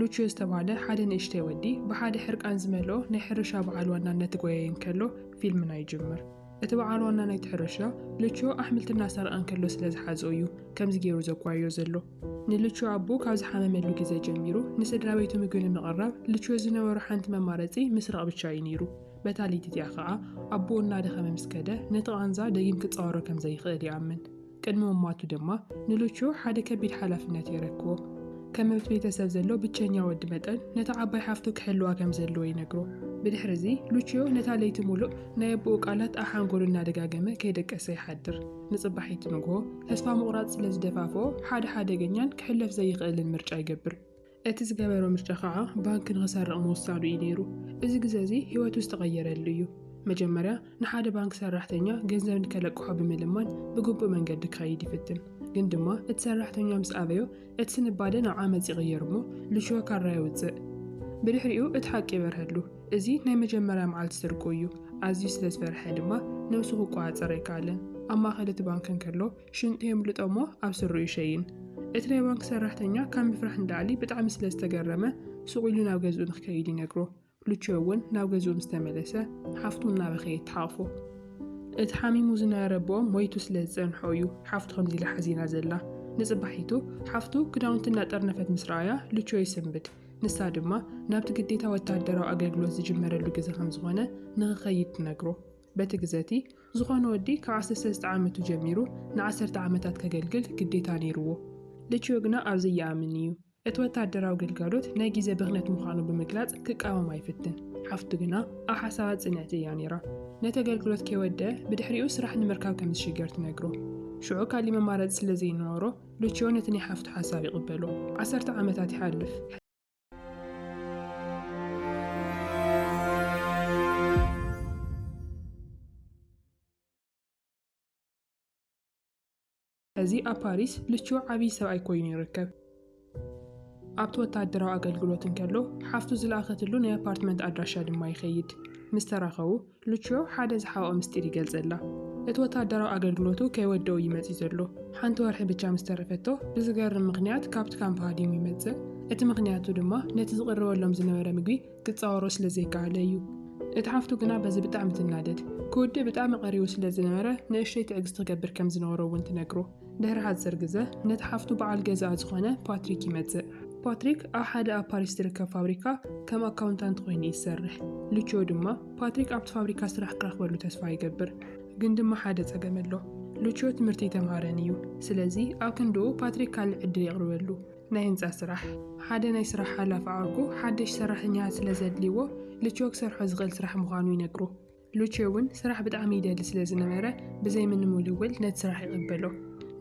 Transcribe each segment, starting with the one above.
ሉችዮ ዝተባህለ ሓደ ንእሽተይ ወዲ ብሓደ ሕርቃን ዝመልኦ ናይ ሕርሻ በዓል ዋና እናተጎየየ እንከሎ ፊልምና ይጅምር። እቲ በዓል ዋና ናይቲ ሕርሻ ሉችዮ ኣሕምልቲ እናሰርቐ እንከሎ ስለ ዝሓዝኦ እዩ ከምዚ ገይሩ ዘጓይዮ ዘሎ። ንሉችዮ ኣቦ ካብ ዝሓመመሉ ግዜ ጀሚሩ ንስድራ ቤቱ ምግቢ ንምቕራብ ሉችዮ ዝነበሮ ሓንቲ መማረጺ ምስራቕ ብቻ እዩ ነይሩ። በታ ለይቲ እቲኣ ከኣ ኣቦኡ እናደኸመ ምስ ከደ ነቲ ቓንዛ ደጊም ክጻወሮ ከም ዘይኽእል ይኣምን። ቅድሚ ምሟቱ ድማ ንሉቹ ሓደ ከቢድ ሓላፍነት የረክቦ። ከም ኣብቲ ቤተሰብ ዘሎ ብቸኛ ወዲ መጠን ነታ ዓባይ ሓፍቱ ክሕልዋ ከም ዘለዎ ይነግሮ። ብድሕሪ እዚ ሉቺዮ ነታ ለይቲ ሙሉእ ናይ ኣቦኡ ቃላት ኣብ ሓንጎሉ እናደጋገመ ከይደቀሰ ይሓድር። ንጽባሒቱ ንግሆ ተስፋ ምቑራጽ ስለ ዝደፋፍኦ ሓደ ሓደገኛን ክሕለፍ ዘይኽእልን ምርጫ ይገብር። እቲ ዝገበሮ ምርጫ ኸኣ ባንኪ ንኽሰርቕ ምውሳዱ እዩ ነይሩ። እዚ ግዘ እዚ ህይወቱ ዝተቐየረሉ እዩ። መጀመርያ ንሓደ ባንኪ ሰራሕተኛ ገንዘብ ንከለቅሖ ብምልማን ብግቡእ መንገዲ ክኸይድ ይፍትን። ግን ድማ እቲ ሰራሕተኛ ምስ ኣበዮ እቲ ስንባደ ናብ ዓመጽ ይቕየር እሞ ልሽወ ካራ የውጽእ። ብድሕሪኡ እቲ ሓቂ ይበርሀሉ። እዚ ናይ መጀመርያ መዓልቲ ስርቁ እዩ። ኣዝዩ ስለ ዝፈርሐ ድማ ነብሱ ክቆጻጸር ኣይከኣለን። ኣብ ማእከል እቲ ባንኪ እንከሎ ሽንጡ የምልጦ እሞ ኣብ ስሩ ይሸይን። እቲ ናይ ባንክ ሰራሕተኛ ካብ ምፍራሕ ንላዕሊ ብጣዕሚ ስለ ዝተገረመ ሱቕ ኢሉ ናብ ገዝኡ ንክከይድ ይነግሮ። ሉችዮ እውን ናብ ገዝኡ ምስ ተመለሰ ሓፍቱ እናበኸየት ትሓቕፎ። እቲ ሓሚሙ ዝነበረ ኣቦኦም ሞይቱ ስለ ዝጸንሖ እዩ ሓፍቱ ከምዚ ኢላ ሓዚና ዘላ። ንጽባሒቱ ሓፍቱ ክዳውንቲ እናጠርነፈት ምስ ረኣያ ሉችዮ ይስንብድ። ንሳ ድማ ናብቲ ግዴታ ወተሃደራዊ ኣገልግሎት ዝጅመረሉ ግዘ ከም ዝኾነ ንክኸይድ ትነግሮ። በቲ ግዘ እቲ ዝኾነ ወዲ ካብ ዓሰርተ ሰለስተ ዓመቱ ጀሚሩ ንዓሰርተ ዓመታት ከገልግል ግዴታ ነይሩዎ። ልቺዮ ግና ኣብዚ ይኣምን እዩ። እቲ ወተሃደራዊ ግልጋሎት ናይ ግዜ ብኽነት ምዃኑ ብምግላጽ ክቃወማ ይፍትን። ሓፍቱ ግና ኣብ ሓሳባት ጽንዕቲ እያ ነይራ። ነቲ ኣገልግሎት ከይወድኣ ብድሕሪኡ ስራሕ ንምርካብ ከም ዝሽገር ትነግሮ። ሽዑ ካልእ መማረጺ ስለ ዘይነበሮ ልቺዮ ነቲ ናይ ሓፍቱ ሓሳብ ይቕበሎ። ዓሰርተ ዓመታት ይሓልፍ። እዚ ኣብ ፓሪስ ልቹ ዓብዪ ሰብኣይ ኮይኑ ይርከብ። ኣብቲ ወተሃደራዊ ኣገልግሎት እንከሎ ሓፍቱ ዝለኣኸትሉ ናይ ኣፓርትመንት ኣድራሻ ድማ ይኸይድ። ምስ ተራኸቡ ሉችዮ ሓደ ዝሓብኦ ምስጢር ይገልጸላ። እቲ ወተሃደራዊ ኣገልግሎቱ ከይወደኡ እዩ መጺኡ ዘሎ። ሓንቲ ወርሒ ብቻ ምስ ተረፈቶ፣ ብዝገርም ምኽንያት ካብቲ ካምፕ ሃዲሙ ይመጽእ። እቲ ምኽንያቱ ድማ ነቲ ዝቕርበሎም ዝነበረ ምግቢ ክጻወሮ ስለ ዘይከኣለ እዩ። እታ ሓፍቱ ግና በዚ ብጣዕሚ ትናደድ። ክውድእ ብጣዕሚ ቀሪቡ ስለ ዝነበረ ንእሽተይ ትዕግስቲ ክገብር ከም ዝነበሮ እውን ትነግሮ። ድሕሪ ሓጺር ግዘ፣ ነቲ ሓፍቱ በዓል ገዛኣ ዝዀነ ፓትሪክ ይመጽእ። ፓትሪክ ኣብ ሓደ ኣብ ፓሪስ ዝርከብ ፋብሪካ ከም ኣካውንታንት ኰይኑ እዩ ዝሰርሕ። ሉቺዮ ድማ፣ ፓትሪክ ኣብቲ ፋብሪካ ስራሕ ክረኽበሉ ተስፋ ይገብር። ግን ድማ ሓደ ጸገም ኣሎ። ሉቺዮ ትምህርቲ ኣይተምሃረን እዩ። ስለዚ፣ ኣብ ክንድኡ ፓትሪክ ካልእ ዕድል የቕርበሉ፣ ናይ ህንጻ ስራሕ። ሓደ ናይ ስራሕ ሓላፊ ዓርኩ ሓደሽቲ ሰራሕተኛታት ስለ ዘድልይዎ፣ ሉቺዮ ክሰርሖ ዝኽእል ስራሕ ምዃኑ ይነግሮ። ሉቼ እውን ስራሕ ብጣዕሚ ይደሊ ስለ ዝነበረ ብዘይ ምንም ውልውል ነቲ ስራሕ ይቐበሎ።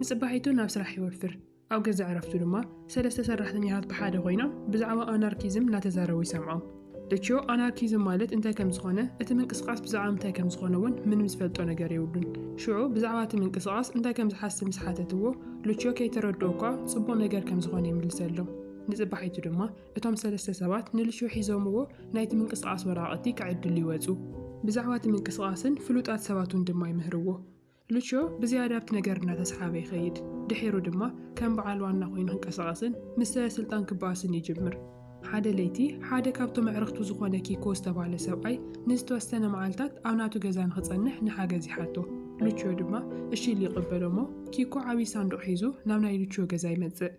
ንጽባሒቱ ናብ ስራሕ ይወፍር። ኣብ ገዛእ ዕረፍቱ ድማ ሰለስተ ሰራሕተኛታት ብሓደ ኮይኖም ብዛዕባ ኣናርኪዝም እናተዛረቡ ይሰምዖም። ሉቼዮ ኣናርኪዝም ማለት እንታይ ከም ዝኾነ እቲ ምንቅስቓስ ብዛዕባ ምንታይ ከም ዝኾነ እውን ምንም ዝፈልጦ ነገር የብሉን። ሽዑ ብዛዕባ እቲ ምንቅስቓስ እንታይ ከም ዝሓስብ ምስ ሓተትዎ ሉቼዮ ከይተረድኦ እኳ ጽቡቕ ነገር ከም ዝኾነ ይምልሰሎም። ንጽባሒቱ ድማ እቶም ሰለስተ ሰባት ንልሹ ሒዞምዎ ናይቲ ምንቅስቓስ ወረቓቕቲ ክዕድሉ ይወጹ። ብዛዕባ እቲ ምንቅስቓስን ፍሉጣት ሰባቱን ድማ ይምህርዎ። ልሾ ብዝያዳ ኣብቲ ነገር እናተሰሓበ ይኸይድ፣ ድሒሩ ድማ ከም በዓል ዋና ኮይኑ ክንቀሳቐስን ምስ ሰበስልጣን ክበኣስን ይጅምር። ሓደ ለይቲ፣ ሓደ ካብቶም ኣዕርኽቱ ዝኾነ ኪኮ ዝተባህለ ሰብኣይ ንዝተወሰነ መዓልታት ኣብ ናቱ ገዛ ንኽጸንሕ ንሓገዝ ይሓቶ። ልቾ ድማ እሺ ኢሉ ይቕበሎ'ሞ፣ ኪኮ ዓብዪ ሳንዱቕ ሒዙ ናብ ናይ ልቾ ገዛ ይመጽእ።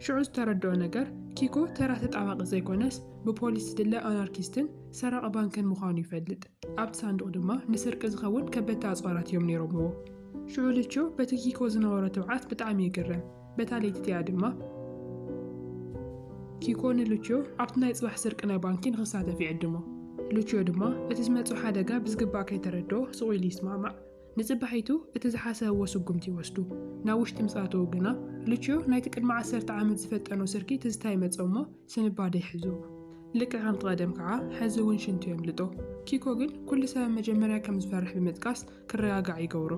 ሽዑ ዝተረድኦ ነገር ኪኮ ተራ ተጣባቒ ዘይኮነስ ብፖሊስ ዝድለ ኣናርኪስትን ሰራቒ ባንክን ምዃኑ ይፈልጥ። ኣብቲ ሳንዱቕ ድማ ንስርቂ ዝኸውን ከበድቲ ኣጽዋራት እዮም ነይሮምዎ። ሽዑ ልቾ በቲ ኪኮ ዝነበሮ ትብዓት ብጣዕሚ ይግረም። በታ ለይቲ እቲኣ ድማ ኪኮ ንልቾ ኣብቲ ናይ ጽባሕ ስርቂ ናይ ባንኪ ንኽሳተፍ ይዕድሞ። ልቾ ድማ እቲ ዝመጾ ሓደጋ ብዝግባእ ከይተረድኦ ስቕ ኢሉ ይስማዕማዕ። ንጽባሒቱ እቲ ዝሓሰብዎ ስጉምቲ ይወስዱ። ናብ ውሽጢ ምስ ኣተዉ ግና፣ ሉችዮ ናይቲ ቅድሚ ዓሰርተ ዓመት ዝፈጠኖ ስርቂ ትዝታ ይመጾ እሞ ስንባደ ይሕዞ። ልክዕ ከምቲ ቀደም ከኣ ሕዚ እውን ሽንቱ የምልጦ። ኪኮ ግን ኩሉ ሰብ ኣብ መጀመርያ ከም ዝፈርሕ ብምጥቃስ ክረጋጋዕ ይገብሮ።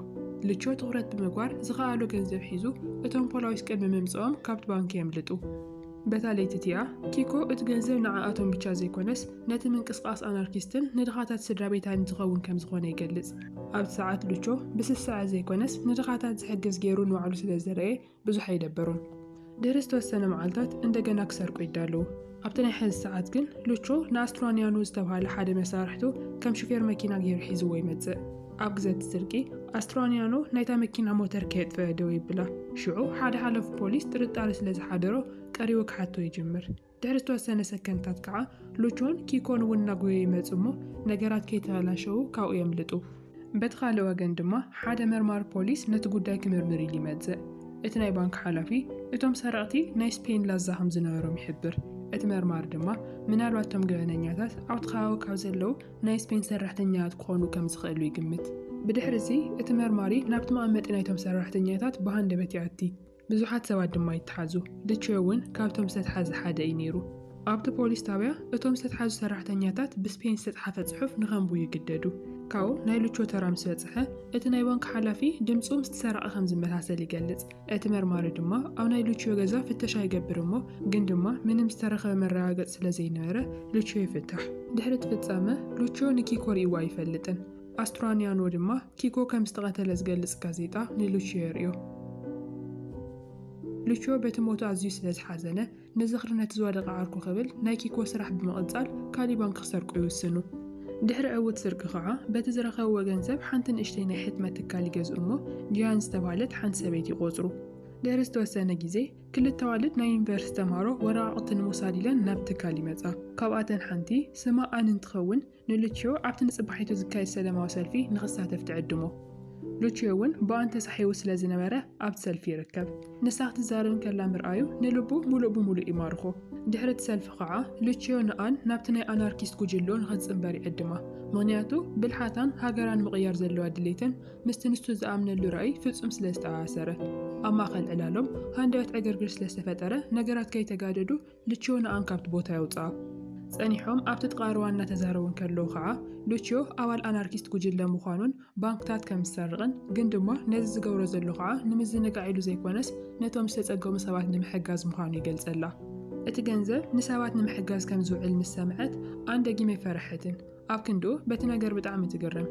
ሉችዮ ትኹረት ብምግባር ዝኸኣሎ ገንዘብ ሒዙ እቶም ፖላዊስ ቅድሚ ምምጽኦም ካብቲ ባንኪ የምልጡ። በታ ለይቲ እቲኣ፣ ኪኮ እቲ ገንዘብ ንዓኣቶም ብቻ ዘይኰነስ ነቲ ምንቅስቓስ ኣናርኪስትን ንድኻታት ስድራቤታይን ዝኸውን ከም ዝዀነ ይገልጽ። ኣብቲ ሰዓት ሉቾ ብስስዐ ዘይኰነስ ንድኻታት ዝሕግዝ ገይሩ ንባዕሉ ስለ ዝረኣየ ብዙሕ ኣይደበሮን። ድሕሪ ዝተወሰነ መዓልታት እንደገና ክሰርቁ ይዳለዉ። ኣብቲ ናይ ሕዚ ሰዓት ግን ሉቾ ንኣስትራንያኖ ዝተብሃለ ሓደ መሳርሕቱ ከም ሹፌር መኪና ገይሩ ሒዝዎ ይመጽእ። ኣብ ግዜ እቲ ስርቂ፣ ኣስትራንያኖ ናይታ መኪና ሞተር ከየጥፈኣ ደው የብላ። ሽዑ ሓደ ሓላፊ ፖሊስ ጥርጣረ ስለ ዝሓደሮ ቀሪቡ ክሓቶ ይጅምር። ድሕሪ ዝተወሰነ ሰከንድታት ከኣ ሉቾን ኪኮን እውን እናጎየዩ ይመጹ እሞ ነገራት ከይተበላሸዉ ካብኡ የምልጡ። በቲ ካልእ ወገን ድማ ሓደ መርማሪ ፖሊስ ነቲ ጉዳይ ክምርምር ኢሉ ይመጽእ። እቲ ናይ ባንክ ሓላፊ እቶም ሰረቕቲ ናይ ስፔን ላዛ ከም ዝነበሮም ይሕብር። እቲ መርማሪ ድማ ምናልባት እቶም ገበነኛታት ኣብቲ ከባቢ ካብ ዘለዉ ናይ ስፔን ሰራሕተኛታት ክኾኑ ከም ዝኽእሉ ይግምት። ብድሕርዚ፣ እቲ መርማሪ ናብቲ መቐመጢ ናይቶም ሰራሕተኛታት ብሃንደበት ይኣቲ፣ ብዙሓት ሰባት ድማ ይተሓዙ። ልቼ እውን ካብቶም ዝተትሓዘ ሓደ እዩ ነይሩ። ኣብቲ ፖሊስ ጣብያ፣ እቶም ዝተትሓዙ ሰራሕተኛታት ብስፔን ዝተጽሓፈ ጽሑፍ ንኸንብቡ ይግደዱ። ካብኡ፣ ናይ ልቾ ተራ ምስ በጽሐ፣ እቲ ናይ ባንክ ሓላፊ ድምጹ ምስቲ ሰራቒ ከም ዝመሳሰል ይገልጽ። እቲ መርማሪ ድማ ኣብ ናይ ሉችዮ ገዛ ፍተሻ ይገብር እሞ ግን ድማ ምንም ዝተረኸበ መረጋገፂ ስለ ዘይነበረ ሉችዮ ይፍታሕ። ድሕሪ እቲ ፍፃመ ሉችዮ ንኪኮ ሪእዎ ኣይፈልጥን። ኣስትራኒያኖ ድማ ኪኮ ከም ዝተቐተለ ዝገልፅ ጋዜጣ ንሉችዮ የርእዮ። ሉችዮ በቲ ሞቱ ኣዝዩ ስለ ዝሓዘነ ንዝኽሪ ነቲ ዝወደቐ ዓርኩ ክብል ናይ ኪኮ ስራሕ ብምቕጻል ካልእ ባንኪ ክሰርቁ ይውስኑ። ድሕሪ ዕዉት ስርቂ ከኣ በቲ ዝረኸብዎ ገንዘብ ሓንቲ ንእሽተይ ናይ ሕትመት ትካል ይገዝኡ እሞ ጂያን ዝተባህለት ሓንቲ ሰበይቲ ይቖጽሩ። ድሕሪ ዝተወሰነ ግዜ ክልተ ኣዋልድ ናይ ዩኒቨርሲቲ ተማሃሮ ወረቓቕቲ ንምውሳድ ኢለን ናብቲ ትካል ይመጻ። ካብኣተን ሓንቲ ስማ ኣን እንትኸውን፣ ንሉቺዮ ኣብቲ ንጽባሒቱ ዝካየድ ሰለማዊ ሰልፊ ንኽሳተፍ ትዕድሞ። ሉቺዮ እውን ብኣን ተሳሒቡ ስለ ዝነበረ ኣብቲ ሰልፊ ይርከብ። ንሳ ክትዛረብ እንከላ ምርኣዩ ንልቡ ምሉእ ብምሉእ ይማርኾ። ድሕሪ እቲ ሰልፊ ኸኣ ሉቺዮ ንኣን ናብቲ ናይ ኣናርኪስት ጉጅልኡ ንኽትጽንበር ይዕድማ። ምኽንያቱ ብልሓታን ሃገራ ንምቕያር ዘለዋ ድሌትን ምስቲ ንሱ ዝኣምነሉ ራእይ ፍጹም ስለ ዝተኣኣሰረ። ኣብ ማእከል ዕላሎም ሃንደበት ዕግርግር ስለ ዝተፈጠረ ነገራት ከይተጋደዱ ሉችዮ ንኣን ካብቲ ቦታ የውጽኣ። ጸኒሖም ኣብቲ ጥቓ ሩባ እናተዛረቡ እንከለዉ ኸኣ፣ ሉችዮ ኣባል ኣናርኪስት ጉጅለ ምዃኑን ባንክታት ከም ዝሰርቕን፣ ግን ድማ ነዚ ዝገብሮ ዘሎ ኸኣ ንምዝንጋዕ ኢሉ ዘይኰነስ ነቶም ዝተጸገሙ ሰባት ንምሕጋዝ ምዃኑ ይገልጸላ። እቲ ገንዘብ ንሰባት ንምሕጋዝ ከም ዝውዕል ምስ ሰምዐት ኣን ደጊም ኣይፈርሐትን። ኣብ ክንድኡ በቲ ነገር ብጣዕሚ ትግረም።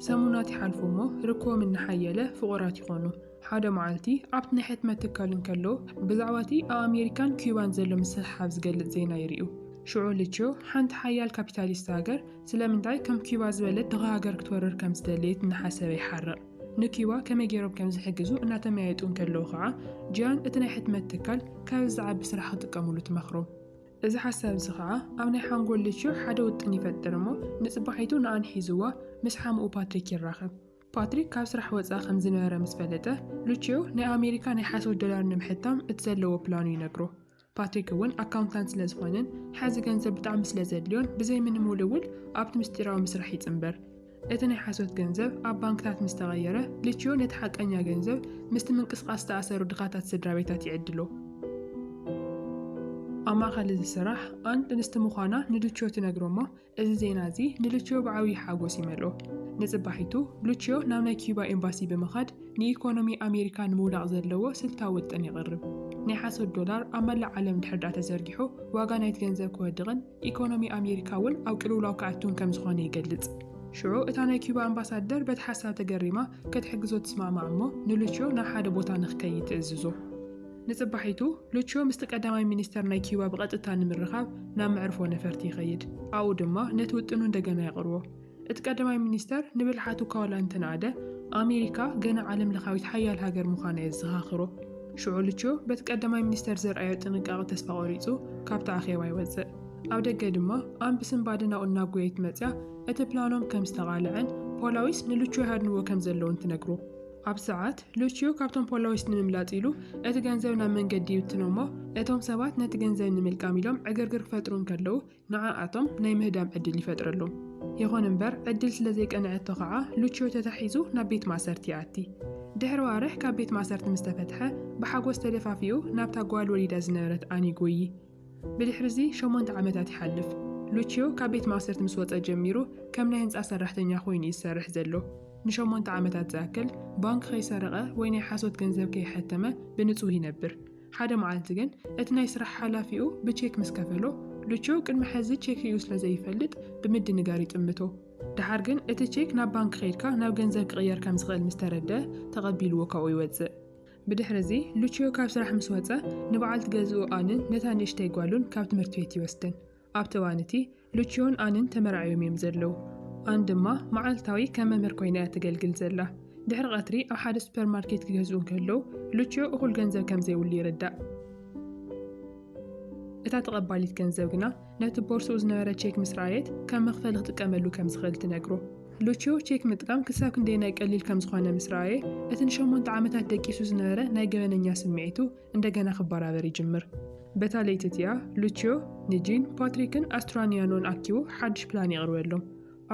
ሰሙናት ይሓልፉ እሞ ርክቦም እናሓየለ ፍቑራት ይዀኑ። ሓደ መዓልቲ ኣብቲ ናይ ሕትመት ትካል እንከሎ ብዛዕባቲ ኣብ ኣሜሪካን ኲባን ዘሎ ምስሕሓብ ዝገልጽ ዜና ይሪኡ። ሽዑ ልችዮ ሓንቲ ሓያል ካፒታሊስት ሃገር ስለምንታይ ከም ኲባ ዝበለት ድኻ ሃገር ክትወርር ከም ዝደለየት እናሓሰበ ይሓርቕ። ንኲባ ከመይ ገይሮም ከም ዝሕግዙ እናተመያየጡ እንከለዉ ከኣ ጂያን እቲ ናይ ሕትመት ትካል ካብዚ ዝዓቢ ስራሕ ክጥቀሙሉ ትመኽሮ። እዚ ሓሳብ እዚ ከኣ ኣብ ናይ ሓንጎል ልችዮ ሓደ ውጥን ይፈጥር እሞ ንጽባሒቱ ንኣን ሒዝዋ ምስ ሓሙኡ ፓትሪክ ይራኸብ። ፓትሪክ ካብ ስራሕ ወጻኢ ከም ዝነበረ ምስ ፈለጠ፣ ሉቺዮ ናይ ኣሜሪካ ናይ ሓሶት ዶላር ንምሕታም እቲ ዘለዎ ፕላኑ ይነግሮ። ፓትሪክ እውን ኣካውንታንት ስለ ዝኾነን ሓዚ ገንዘብ ብጣዕሚ ስለ ዘድልዮን ብዘይ ምንም ውልውል ኣብቲ ምስጢራዊ ምስራሕ ይጽንበር። እቲ ናይ ሓሶት ገንዘብ ኣብ ባንክታት ምስ ተቐየረ፣ ሉቺዮ ነቲ ሓቀኛ ገንዘብ ምስቲ ምንቅስቓስ ዝተኣሰሩ ድኻታት ስድራቤታት ይዕድሎ። ኣብ ማእከል እዚ ስራሕ ኣን ጥንስቲ ምዃና ንሉቺዮ ትነግሮ እሞ እዚ ዜና እዚ ንሉቺዮ ብዓብዪ ሓጐስ ይመልኦ። ንጽባሒቱ፣ ሉቺዮ ናብ ናይ ኪዩባ ኤምባሲ ብምኻድ ንኢኮኖሚ ኣሜሪካ ንምውዳቕ ዘለዎ ስልታዊ ውጥን የቕርብ። ናይ ሓሶት ዶላር ኣብ መላእ ዓለም እንድሕር ድኣ ተዘርጊሑ፣ ዋጋ ናይቲ ገንዘብ ክወድቕን ኢኮኖሚ ኣሜሪካ እውን ኣብ ቅልውላው ክኣቱን ከም ዝዀነ ይገልጽ። ሽዑ እታ ናይ ኪዩባ ኣምባሳደር በቲ ሓሳብ ተገሪማ ክትሕግዞ ትስማዕማዕ እሞ ንሉቺዮ ናብ ሓደ ቦታ ንኽከይድ ትእዝዞ። ንጽባሒቱ፣ ሉቺዮ ምስቲ ቀዳማይ ሚኒስተር ናይ ኪዩባ ብቐጥታ ንምርኻብ ናብ መዕርፎ ነፈርቲ ይኸይድ፣ ኣብኡ ድማ ነቲ ውጥኑ እንደገና የቕርቦ። እቲ ቀዳማይ ሚኒስተር ንብልሓቱ እኳ ዋላ እንተነኣደ፣ ኣሜሪካ ገና ዓለምለኻዊት ሓያል ሃገር ምዃና የዘኻኽሮ። ሽዑ ሉቺዮ በቲ ቀዳማይ ሚኒስተር ዘርኣዮ ጥንቃቐ ተስፋ ቈሪጹ ካብቲ ኣኼባ ይወጽእ። ኣብ ደገ ድማ ኣንቢ ስንባደ ናብኡ እናጐየየት መጺኣ እቲ ፕላኖም ከም ዝተቓልዐን ፖላዊስ ንሉቺዮ ይሃድንዎ ከም ዘለዉን ትነግሮ። ኣብ ሰዓት፣ ሉቺዮ ካብቶም ፖላዊስ ንምምላጥ ኢሉ እቲ ገንዘብ ናብ መንገዲ ይብትኖ እሞ፣ እቶም ሰባት ነቲ ገንዘብ ንምልቃም ኢሎም ዕግርግር ክፈጥሩ እንከለዉ፣ ንዓኣቶም ናይ ምህዳም ዕድል ይፈጥረሎም። ይኹን እምበር፣ ዕድል ስለ ዘይቀንዐቶ ኸኣ ሉቺዮ ተታሒዙ ናብ ቤት ማእሰርቲ ይኣቲ። ድሕሪ ኣዋርሕ ካብ ቤት ማእሰርቲ ምስ ተፈትሐ፣ ብሓጐስ ተደፋፊኡ ናብታ ጓል ወሊዳ ዝነበረት ኣን ይጐዪ። ብድሕርዚ ሸሞንተ ዓመታት ይሓልፍ። ሉቺዮ ካብ ቤት ማእሰርቲ ምስ ወጸ ጀሚሩ ከም ናይ ህንጻ ሰራሕተኛ ኰይኑ እዩ ዝሰርሕ ዘሎ። ንሸሞንተ ዓመታት ዝኣክል ባንክ ከይሰረቐ ወይ ናይ ሓሶት ገንዘብ ከይሓተመ ብንጹህ ይነብር። ሓደ መዓልቲ ግን እቲ ናይ ስራሕ ሓላፊኡ ብቼክ ምስ ከፈሎ፣ ሉቺዮ ቅድሚ ሕዚ ቼክ ርእዩ ስለ ዘይፈልጥ ብምድንጋር ይጥምቶ። ደሓር ግን እቲ ቼክ ናብ ባንክ ከይድካ ናብ ገንዘብ ክቕየር ከም ዝኽእል ምስ ተረድኣ ተቐቢልዎ ካብኡ ይወጽእ። ብድሕርዚ፣ ሉችዮ ካብ ስራሕ ምስ ወጸ፣ ንበዓልቲ ገዝኡ ኣንን ነታ ንእሽተይ ጓሉን ካብ ትምህርቲ ቤት ይወስደን። ኣብቲ እዋን'ቲ፣ ሉችዮን ኣንን ተመርዓዮም እዮም ዘለዉ። ኣን ድማ መዓልታዊ ከም መምህር ኰይና እያ እተገልግል ዘላ። ድሕሪ ቐትሪ ኣብ ሓደ ሱፐርማርኬት ክገዝኡ እንከለዉ፣ ሉችዮ እኹል ገንዘብ ከም ዘይብሉ ይርዳእ። እታ ተቐባሊት ገንዘብ ግና ነቲ ቦርስኡ ዝነበረ ቼክ ምስ ረኣየት ከም መኽፈሊ ክጥቀመሉ ከም ዝኽእል ትነግሮ። ሉቺዮ ቼክ ምጥቃም ክሳብ ክንደየናይ ቀሊል ከም ዝዀነ ምስ ረኣየ፣ እቲ ንሸሞንተ ዓመታት ደቂሱ ዝነበረ ናይ ገበነኛ ስምዒቱ እንደገና ክበራበር ይጅምር። በታ ለይቲ እቲኣ፣ ሉቺዮ ንጂን፣ ፓትሪክን ኣስትራኒያኖን ኣኪቡ ሓድሽ ፕላን የቕርበሎም።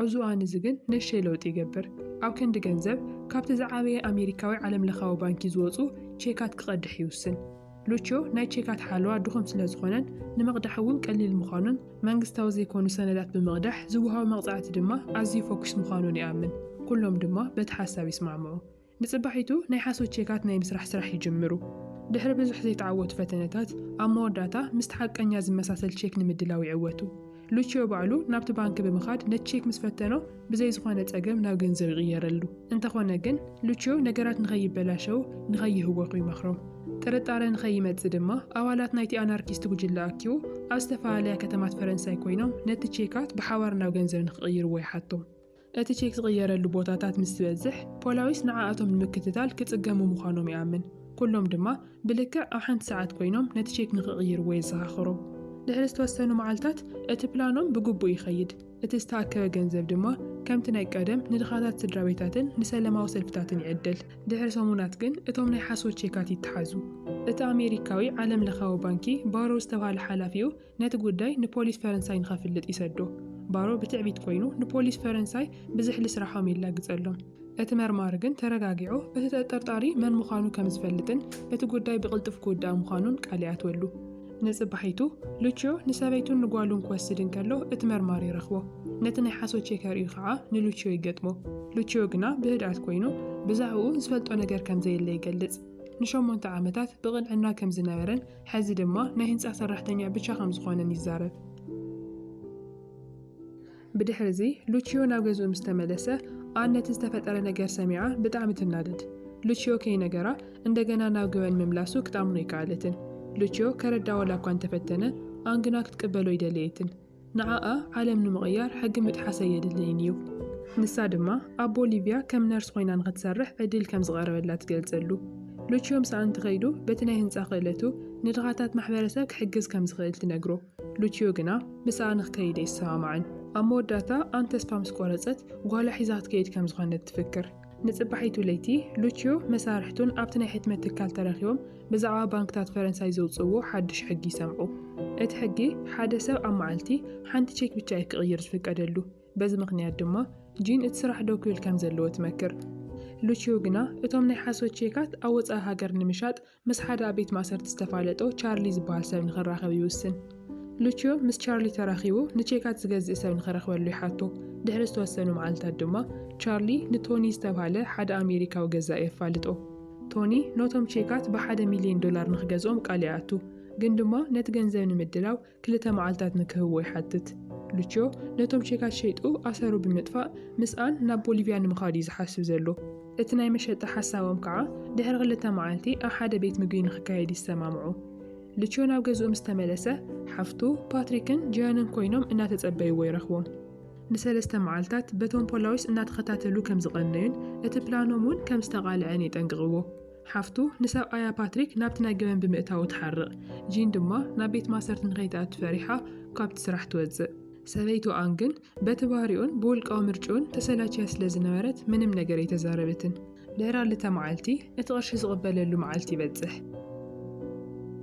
ኣብዚ እዋን እዚ ግን ንእሽተይ ለውጢ ይገብር። ኣብ ክንዲ ገንዘብ፣ ካብቲ ዝዓበየ ኣሜሪካዊ ዓለምለኻዊ ባንኪ ዝወጹ ቼካት ክቐድሕ ይውስን። ሉችዮ ናይ ቼካት ሓለዋ ድኹም ስለዝኾነን ንምቕዳሕ እውን ቀሊል ምዃኑን መንግስታዊ ዘይኮኑ ሰነዳት ብምቕዳሕ ዝወሃቡ መቕጻዕቲ ድማ ኣዝዩ ፈኲስ ምዃኑን ይኣምን። ኩሎም ድማ በቲ ሓሳብ ይስማዕምዑ። ንጽባሒቱ ናይ ሓሶት ቼካት ናይ ምስራሕ ስራሕ ይጅምሩ። ድሕሪ ብዙሕ ዘይተዓወቱ ፈተነታት፣ ኣብ መወዳእታ ምስቲ ሓቀኛ ዝመሳሰል ቼክ ንምድላው ይዕወቱ። ሉቺዮ ባዕሉ ናብቲ ባንኪ ብምኻድ ነቲ ቼክ ምስ ፈተኖ ብዘይ ዝኾነ ጸገም ናብ ገንዘብ ይቕየረሉ። እንተኾነ ግን ሉቺዮ ነገራት ንኸይበላሸዉ ንኸይህወኹ ይመኽሮም። ጥርጣረ ንኸይመጽእ ድማ ኣባላት ናይቲ ኣናርኪስት ጉጅለ ኣኪቡ ኣብ ዝተፈላለያ ከተማት ፈረንሳይ ኮይኖም ነቲ ቼካት ብሓባር ናብ ገንዘብ ንኽቕይርዎ ይሓቶም። እቲ ቼክ ዝቕየረሉ ቦታታት ምስ ዝበዝሕ፣ ፖላዊስ ንዓኣቶም ንምክትታል ክጽገሙ ምዃኖም ይኣምን። ኩሎም ድማ ብልክዕ ኣብ ሓንቲ ሰዓት ኮይኖም ነቲ ቼክ ንኽቕይርዎ የዘኻኽሮም። ድሕሪ ዝተወሰኑ መዓልታት እቲ ፕላኖም ብግቡእ ይኸይድ፣ እቲ ዝተኣከበ ገንዘብ ድማ ከምቲ ናይ ቀደም ንድኻታት ስድራቤታትን ንሰለማዊ ሰልፍታትን ይዕደል። ድሕሪ ሰሙናት ግን እቶም ናይ ሓሶት ቼካት ይተሓዙ። እቲ ኣሜሪካዊ ዓለምለኻዊ ባንኪ ባሮ ዝተባህለ ሓላፊኡ፣ ነቲ ጉዳይ ንፖሊስ ፈረንሳይ ንኸፍልጥ ይሰዶ። ባሮ ብትዕቢት ኮይኑ ንፖሊስ ፈረንሳይ ብዝሕሊ ስራሖም የላግጸሎም። እቲ መርማሪ ግን ተረጋጊዑ እቲ ተጠርጣሪ መን ምዃኑ ከም ዝፈልጥን እቲ ጉዳይ ብቕልጡፍ ክውዳእ ምዃኑን ቃል ይኣትወሉ። ንጽባሒቱ ሉችዮ ንሰበይቱን ንጓሉን ክወስድ እንከሎ እቲ መርማሪ ይረኽቦ። ነቲ ናይ ሓሶት ቼከር እዩ ኸኣ ንሉችዮ ይገጥሞ። ሉችዮ ግና ብህድኣት ኮይኑ ብዛዕባኡ ዝፈልጦ ነገር ከም ዘየለ ይገልጽ። ንሸሞንተ ዓመታት ብቕንዕና ከም ዝነበረን ሐዚ ድማ ናይ ህንፃ ሰራሕተኛ ብቻ ከምዝኾነን ይዛረብ። ብድሕሪ እዚ ሉቺዮ ናብ ገዝኡ ምስ ተመለሰ ኣን ነቲ ዝተፈጠረ ነገር ሰሚዓ ብጣዕሚ ትናደድ። ሉቺዮ ከይነገራ እንደገና ናብ ገበን ምምላሱ ክትኣምኖ ኣይከኣለትን። ሉቺዮ ከረድኣ ዋላ እኳ እንተፈተነ ኣን ግና ክትቅበሎ ኣይደለየትን። ንዓኣ ዓለም ንምቕያር ሕጊ ምጥሓስ ኣየድልይን እዩ። ንሳ ድማ ኣብ ቦሊቪያ ከም ነርስ ዀይና ንኽትሰርሕ ዕድል ከም ዝቐረበላ ትገልጸሉ። ሉችዮ ምስኣ እንተኸይዱ በቲ ናይ ህንጻ ክእለቱ ንድኻታት ማሕበረሰብ ክሕግዝ ከም ዝኽእል ትነግሮ። ሉችዮ ግና ምስኣ ንኽከይድ ኣይሰማማዕን። ኣብ መወዳእታ ኣን ተስፋ ምስ ቈረጸት ጓላ ሒዛ ክትከይድ ከም ዝዀነት ትፍክር። ንጽባሒቱ ለይቲ፣ ሉችዮ መሳርሕቱን ኣብቲ ናይ ሕትመት ትካል ተረኺቦም ብዛዕባ ባንክታት ፈረንሳይ ዘውጽእዎ ሓድሽ ሕጊ ይሰምዑ። እቲ ሕጊ፣ ሓደ ሰብ ኣብ መዓልቲ ሓንቲ ቼክ ብቻ እዩ ክቕይር ዝፍቀደሉ፣ በዚ ምኽንያት ድማ ጂን እቲ ስራሕ ደው ክብል ከም ዘለዎ ትመክር። ሉችዮ ግና እቶም ናይ ሓሶት ቼካት ኣብ ወጻኢ ሃገር ንምሻጥ ምስ ሓደ ኣብ ቤት ማእሰርቲ ዝተፋለጦ ቻርሊ ዝበሃል ሰብ ንኽራኸብ ይውስን። ሉችዮ ምስ ቻርሊ ተራኺቡ ንቼካት ዝገዝእ ሰብ ንኽረኽበሉ ይሓቶ። ድሕሪ ዝተወሰኑ መዓልታት ድማ ቻርሊ ንቶኒ ዝተብሃለ ሓደ ኣሜሪካዊ ገዛኢ የፋልጦ። ቶኒ ኖቶም ቼካት ብሓደ ሚልዮን ዶላር ንኽገዝኦም ቃል ይኣቱ። ግን ድማ ነቲ ገንዘብ ንምድላው ክልተ መዓልታት ንክህቦ ይሓትት። ሉችዮ ነቶም ቼካት ሸይጡ ኣሰሩ ብምጥፋእ ምስኣን ናብ ቦሊቪያ ንምኻድ እዩ ዝሓስብ ዘሎ። እቲ ናይ መሸጣ ሓሳቦም ከዓ ድሕሪ ክልተ መዓልቲ ኣብ ሓደ ቤት ምግቢ ንክካየድ ይሰማምዑ። ሉችዮ ናብ ገዝኡ ምስ ተመለሰ ሓፍቱ፣ ፓትሪክን ጂያንን ኮይኖም እናተጸበይዎ ይረኽቦም። ንሰለስተ መዓልታት በቶም ፖላዊስ እናተኸታተሉ ከም ዝቐነዩን እቲ ፕላኖም እውን ከም ዝተቓልዐን የጠንቅቕዎ። ሓፍቱ ንሰብኣያ ፓትሪክ ናብቲ ናይ ገበን ብምእታዉ ትሓርቕ፣ ጂን ድማ ናብ ቤት ማእሰርቲ ንኸይትኣቱ ፈሪሓ ካብቲ ስራሕ ትወጽእ። ሰበይቱ ኣን ግን በቲ ባህሪኡን ብውልቃዊ ምርጭኡን ተሰላችያ ስለ ዝነበረት ምንም ነገር ኣይተዛረበትን። ድሕሪ ኣልተ መዓልቲ እቲ ቅርሺ ዝቕበለሉ መዓልቲ ይበጽሕ።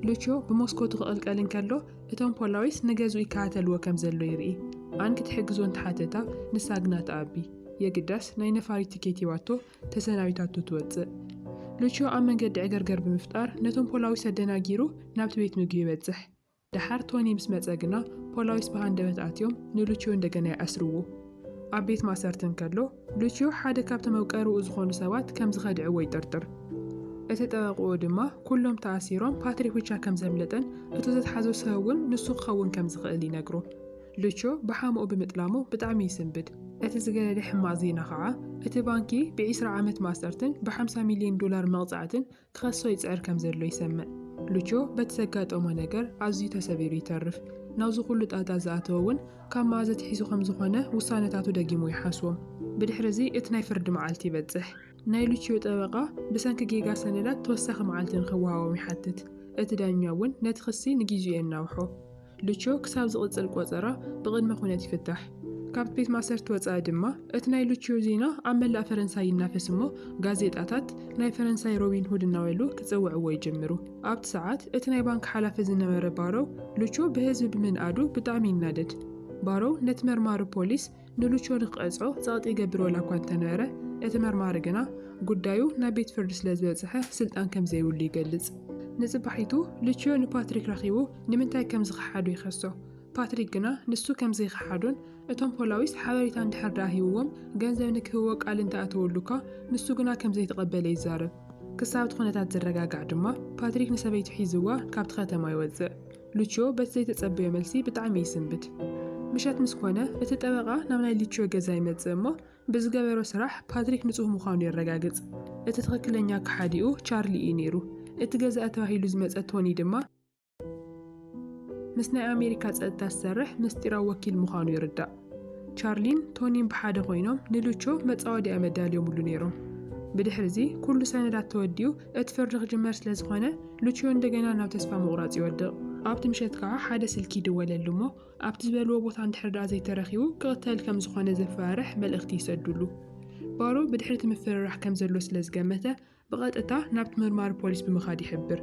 ሉችዮ ብሞስኮቱ ክቕልቀል እንከሎ እቶም ፖላዊስ ንገዝኡ ይከታተልዎ ከም ዘሎ ይርኢ። ኣን ክትሕግዞ እንተሓተታ ንሳ ግና ትኣቢ። የግዳስ ናይ ነፋሪት ትኬት ሂባቶ ተሰናቢታቶ ትወጽእ። ሉችዮ ኣብ መንገዲ ዕገርገር ብምፍጣር ነቶም ፖላዊስ ኣደናጊሩ ናብቲ ቤት ምግቢ ይበጽሕ። ደሓር ቶኒ ምስ መጸ ግና ፖላዊስ ብሃንደበት ኣትዮም ንሉችዮ እንደገና ይኣስርዎ። ኣብ ቤት ማእሰርቲ እንከሎ ሉችዮ ሓደ ካብቲ መውቀርኡ ዝኾኑ ሰባት ከም ዝኸድዕዎ ይጥርጥር። እቲ ጠበቕኡ ድማ ኩሎም ተኣሲሮም ፓትሪኩቻ ከም ዘምለጠን እቱ ዘትሓዞ ሰብ'ውን ንሱ ክኸውን ከም ዝኽእል ይነግሮ። ሉቾ ብሓሙኡ ብምጥላሙ ብጣዕሚ ይስንብድ። እቲ ዝገደደ ሕማቕ ዜና ከኣ እቲ ባንኪ ብዒስራ ዓመት ማእሰርትን ብሓምሳ ሚልዮን ዶላር መቕጻዕትን ክኸሶ ይጽዕር ከምዘሎ ይሰምዕ። ሉቾ በቲ ዘጋጠሞ ነገር ኣዝዩ ተሰቢሩ ይተርፍ። ናብዚ ኩሉ ጣጣ ዝኣተወ እውን ካብ መኣዝ ኣትሒዙ ከምዝኾነ ውሳነታቱ ደጊሙ ይሓስቦ። ብድሕሪዚ እቲ ናይ ፍርዲ መዓልቲ ይበጽሕ። ናይ ሉችዮ ጠበቓ ብሰንኪ ጌጋ ሰነዳት ተወሳኺ መዓልቲ ንኽወሃቦም ይሓትት። እቲ ዳኛ እውን ነቲ ክሲ ንጊዚኡ የናውሖ። ሉችዮ ክሳብ ዝቕጽል ቆጸራ ብቕድመ ኩነት ይፍታሕ። ካብቲ ቤት ማእሰርቲ ወጻኢ ድማ እቲ ናይ ሉችዮ ዜና ኣብ መላእ ፈረንሳይ ይናፈስ እሞ ጋዜጣታት ናይ ፈረንሳይ ሮቢን ሁድ እናበሉ ክጽውዕዎ ይጅምሩ። ኣብቲ ሰዓት እቲ ናይ ባንክ ሓላፊ ዝነበረ ባሮው ሉችዮ ብህዝቢ ብምንኣዱ ብጣዕሚ ይናደድ። ባሮው ነቲ መርማሪ ፖሊስ ንሉቾ ንክቐጽዖ ጸቕጢ ይገብር ዋላ እኳ እንተነበረ፣ እቲ መርማሪ ግና ጉዳዩ ናብ ቤት ፍርዲ ስለ ዝበጽሐ ስልጣን ከም ዘይብሉ ይገልጽ። ንጽባሒቱ ሉቺዮ ንፓትሪክ ረኺቡ ንምንታይ ከም ዝኸሓዶ ይኸሶ። ፓትሪክ ግና ንሱ ከም ዘይኸሓዶን እቶም ፖላዊስ ሓበሬታ እንድሕር ደኣ ሂብዎም ገንዘብ ንክህቦ ቃል እንተ ኣተወሉ እኳ ንሱ ግና ከም ዘይተቐበለ ይዛረብ። ክሳብ እቲ ኩነታት ዝረጋጋዕ ድማ ፓትሪክ ንሰበይቱ ሒዝዋ ካብቲ ከተማ ይወጽእ። ሉችዮ በቲ ዘይተጸበዮ መልሲ ብጣዕሚ ይስንብድ። ምሸት ምስ ኮነ፣ እቲ ጠበቓ ናብ ናይ ሉችዮ ገዛ ይመጽእ እሞ ብዝገበሮ ስራሕ ፓትሪክ ንጹህ ምዃኑ የረጋግጽ። እቲ ትኽክለኛ ከሓዲኡ ቻርሊ እዩ ነይሩ። እቲ ገዛኢ ተባሂሉ ዝመጸ ቶኒ ድማ ምስ ናይ ኣሜሪካ ጸጥታ ዝሰርሕ ምስጢራዊ ወኪል ምዃኑ ይርዳእ። ቻርሊን ቶኒን ብሓደ ኮይኖም ንሉቾ መጻወድያ መዳልዮምሉ ነይሮም። ብድሕርዚ ኩሉ ሰነዳት ተወዲኡ እቲ ፍርዲ ክጅመር ስለ ዝኾነ ሉችዮ እንደገና ናብ ተስፋ ምቑራጽ ይወድቕ። ኣብቲ ምሸት ከኣ ሓደ ስልኪ ይድወለሉ እሞ ኣብቲ ዝበልዎ ቦታ እንድሕር ደኣ ዘይተረኺቡ ክቕተል ከም ዝኾነ ዘፈራርሕ መልእኽቲ ይሰዱሉ። ባሮ ብድሕሪ እቲ ምፍርራሕ ከም ዘሎ ስለ ዝገመተ ብቐጥታ ናብቲ መርማሪ ፖሊስ ብምኻድ ይሕብር።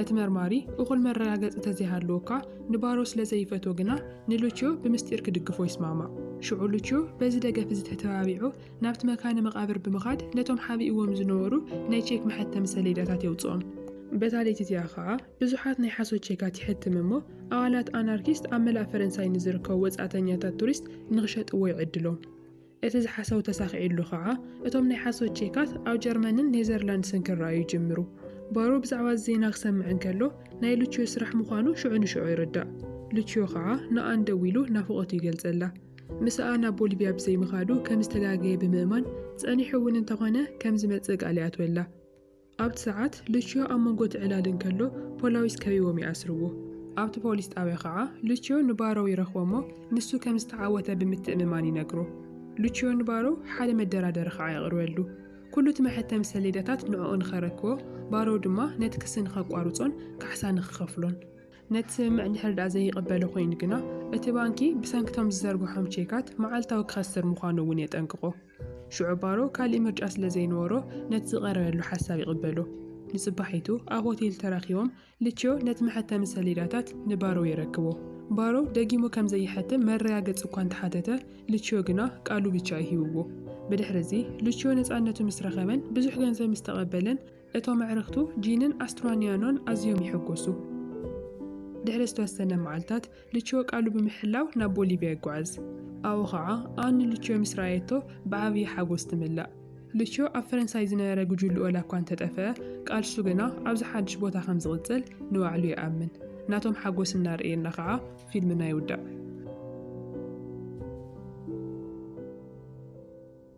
እቲ መርማሪ እኹል መረጋገጺ ተዘይሃለወኳ ንባሮ ስለ ዘይፈትዎ ግና ንሉችዮ ብምስጢር ክድግፎ ይስማማዕ። ሽዑ ሉችዮ በዚ ደገፍ እዚ ተተባቢዑ ናብቲ መካነ መቓብር ብምኻድ ነቶም ሓቢእዎም ዝነበሩ ናይ ቼክ መሐተሚ ሰሌዳታት የውጽኦም። በታ ለይቲ እቲኣ ከኣ ብዙሓት ናይ ሓሶት ቼካት ይሐትም እሞ ኣባላት ኣናርኪስት ኣብ መላእ ፈረንሳይ ንዝርከቡ ወጻእተኛታት ቱሪስት ንኽሸጥዎ ይዕድሎም። እቲ ዝሓሰቡ ተሳኺዕሉ ከኣ፣ እቶም ናይ ሓሶት ቼካት ኣብ ጀርመንን ኔዘርላንድስን ክረኣዩ ይጅምሩ። ባሮ ብዛዕባ እዚ ዜና ክሰምዕ እንከሎ፣ ናይ ሉቺዮ ስራሕ ምዃኑ ሽዑ ንሽዑ ይርዳእ። ሉቺዮ ከኣ ንኣን ደዊሉ ናፍቖቱ ይገልጸላ። ምስኣ ናብ ቦሊቭያ ብዘይምኻዱ ከም ዝተጋገየ ብምእማን፣ ጸኒሑ እውን እንተኾነ ከም ዝመጽእ ቃል ይኣትወላ። ኣብቲ ሰዓት ሉቺዮ ኣብ መንጎ እቲ ዕላል እንከሎ ፖላዊስ ከቢቦም ይኣስርዎ። ኣብቲ ፖሊስ ጣብያ ከኣ ሉቺዮ ንባሮው ይረኽቦ'ሞ ንሱ ከም ዝተዓወተ ብምትእምማን ይነግሮ። ሉቺዮ ንባሮው ሓደ መደራደሪ ከኣ የቕርበሉ። ኩሉ እቲ መሐተሚ ሰሌዳታት ንዕኡ ንኸረክቦ ባሮው ድማ ነቲ ክሲ ንኸቋርጾን ካሕሳ ንኽኸፍሎን። ነቲ ስምምዕ እንድሕሪ ደኣ ዘይቕበሎ ኮይኑ ግና እቲ ባንኪ ብሰንኪ እቶም ዝዘርግሖም ቼካት መዓልታዊ ክኸስር ምዃኑ እውን የጠንቅቖ። ሽዑ ባሮ ካልእ ምርጫ ስለ ዘይነበሮ ነቲ ዝቐረበሉ ሓሳብ ይቕበሎ። ንጽባሒቱ ኣብ ሆቴል ተራኺቦም ልችዮ ነቲ መሐተሚ ሰሌዳታት ንባሮ የረክቦ። ባሮ ደጊሙ ከም ዘይሐትም መረጋገጺ እኳ እንተሓተተ ልችዮ ግና ቃሉ ብቻ እዩ ሂብዎ። ብድሕርዚ ልችዮ ነጻነቱ ምስ ረኸበን ብዙሕ ገንዘብ ምስ ተቐበለን፣ እቶም ኣዕርኽቱ ጂንን ኣስትራኒያኖን ኣዝዮም ይሕጎሱ። ድሕሪ ዝተወሰነ መዓልታት፣ ሉቺዮ ቃሉ ብምሕላው ናብ ቦሊቪያ ይጓዓዝ። ኣብኡ ኸኣ ኣን ንሉቺዮ ምስ ረኣየቶ ብዓብዪ ሓጎስ ትምላእ። ሉቺዮ ኣብ ፈረንሳይ ዝነበረ ጉጅልኡ ዋላ እኳ እንተ ጠፍኣ፣ ቃልሱ ግና ኣብዚ ሓድሽ ቦታ ከም ዝቕጽል ንባዕሉ ይኣምን። ናቶም ሓጎስ እናርኣየና ኸኣ ፊልምና ይውዳእ።